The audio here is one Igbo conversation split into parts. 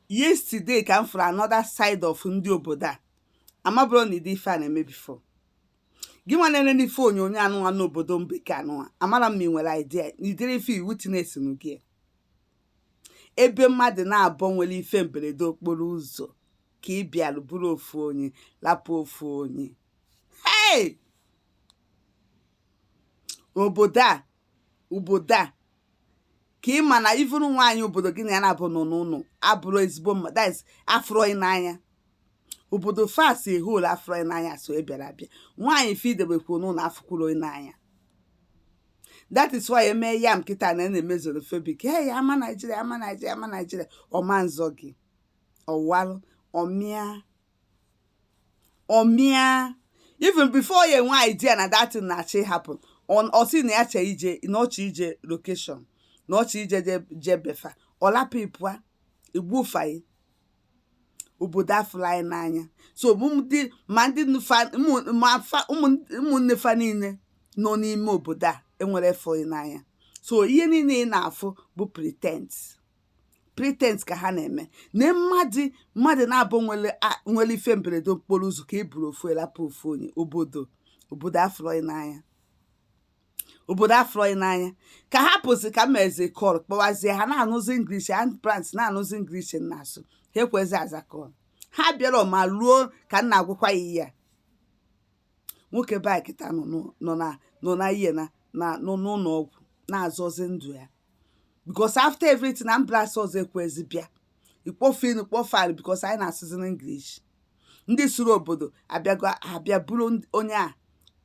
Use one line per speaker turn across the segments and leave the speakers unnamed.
yesterday ka m fụrụ another side of ndị obodo a amaburọ m na ụdị ife a na-eme before gị nwa na-ele n'ife onyonyo anụnwa n'obodo mbeke anụnwa amara m ma ị nwere idea na ụdịrị ife witnessing ya ebe mmadụ naabọ nwere ife mberede okporo ụzọ ka ị bịara buru ofu onye lapụ ofu onye hey! obodo a obodo a ka ị ma na even nwaanyị obodo gị na ya naabọ nọ n'ụlọ abụrọ ezigbo mmadụ afụrọ gị n'anya obodo fa as a whole afụrọ gị n'anya so ị bịara abịa nwaanyị fa i debekwu n'ụlọ afụkwurọ gị n'anya that is why eme ya m kịta na a na-eme xenophobic he ya ama naijiria ama naijiria ama naijiria ọ ma nzọ gị ọ walụ ọ mịa ọ mịa even before ya enwe idea na that thing na-achọ ị happen ọ sị na ya chọ ije na ọ chọọ ije location na ọ chọọ ije je be fa ọ lapụ gị pụa egbufa gị obodo afụrọ gị n'anya so ma ndị ụmụnne fa niile nọ n'ime obodo a enwerọ ịfụnanya so ihe niile ị na-afụ bụ pretense pretense ka ha na-eme na mmadụ mmadụ naabọ nwere a- nwere ife mberede okporo ụzọ ka e buru ofu a lapụ ofu onye obodo obodo afụrọ gị n'anya obodo afụrọ gị n'anya ka ha pụsị ka e mezi call kpọwazie ha na-anụzi English ambulance na-anụzi English a na-asụ ha ekwezi aza call ha abịarọ ma ruo ka m na-agwakwa gị ihe a nwoke be anyị kịta nọ n'ụ- nọ na nọ na ihe na na nọ n'ụlọ ọgwụ na-azọzi ndụ ya because after everything ambulance ọzọ ekwezi bịa ị kpọọ fon kpọọ fa because anyị na-asụzi n'English ndị sụrụ obodo abịago abịa buru ndị- onye a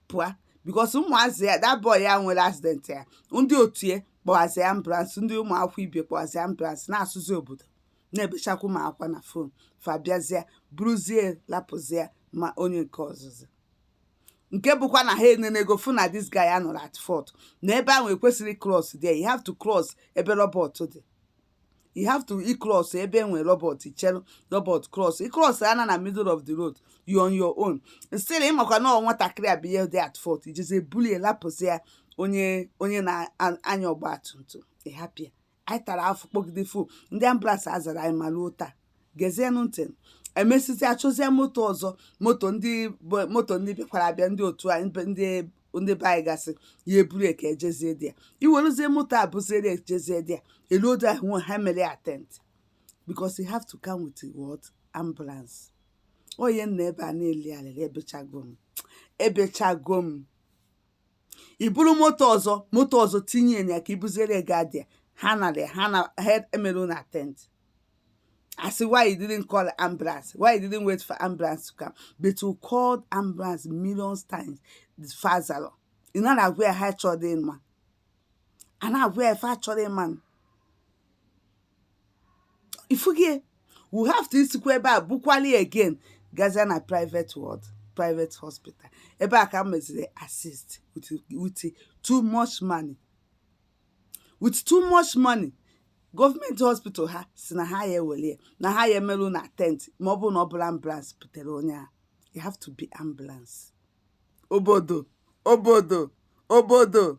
pụa because ụmụazị ya that boy a nwere accident a ndị otu ya kpọwazie ambulance ndị ụmụ akwụkwọ ibe kpọwazie ambulance na-asụzi obodo na-ebechakwa ụmụ akwụkwọ na fon fa bịazie buruzie lapụzie ma onye nke ọzọzọ nke bụkwa na ha enenego fụ na this guy anọrọ at fault na ebe ahụ ekwesịrọ cross there you have to cross ebe robot dị you have to cross ebe e nwe robot ị chere robot cross ị cross ana na middle of the road you on your own still ịmakwa na nwatakịrị a bụ ihe dị at fault i jezie bulie lapụzie onye onye na-anya ọgba tum tum ị hapụ ya anyị tara afụfụ kpọgide fon ndị ambulance azarọ anyị ma ruo taa gezienụ ntị emesịzi achọzie moto ọzọ moto ndị bụ- moto ndị bịakwara abịa ndị otu anyị be- ndị ndị be anyị gasịa buru ya ka e jezie there e werezie moto a buzie ya e jezie there e luo there ahụ ha emerọ ya attend because you have to come with what ambulance onye nọ ebe a na-eli alịlị ebechago m ebechago m i buru moto ọzọ moto ọzọ tinye ya ka i buziri ga adịa ha anara ya na ha emere unu attend a sị why you didn't call ambulance why you didn't wait for ambulance to come but you called ambulance millions times fa azarọ ị na-agwa ya ha achọrọ ịma a na-agwa ya fa achọrọ ịma ifugie we have to isikwa ebe a bukwali again gazie na private ward private hospital ebe a ka m meziri assist with, with too much money with too much money gọọmenti hospital ha sị na ha ya ewere ya na ha ya emere unu attend ma ọ bụrụ na ọ bụrọ ambulance butere onye a it have to be ambulance obodo obodo obodo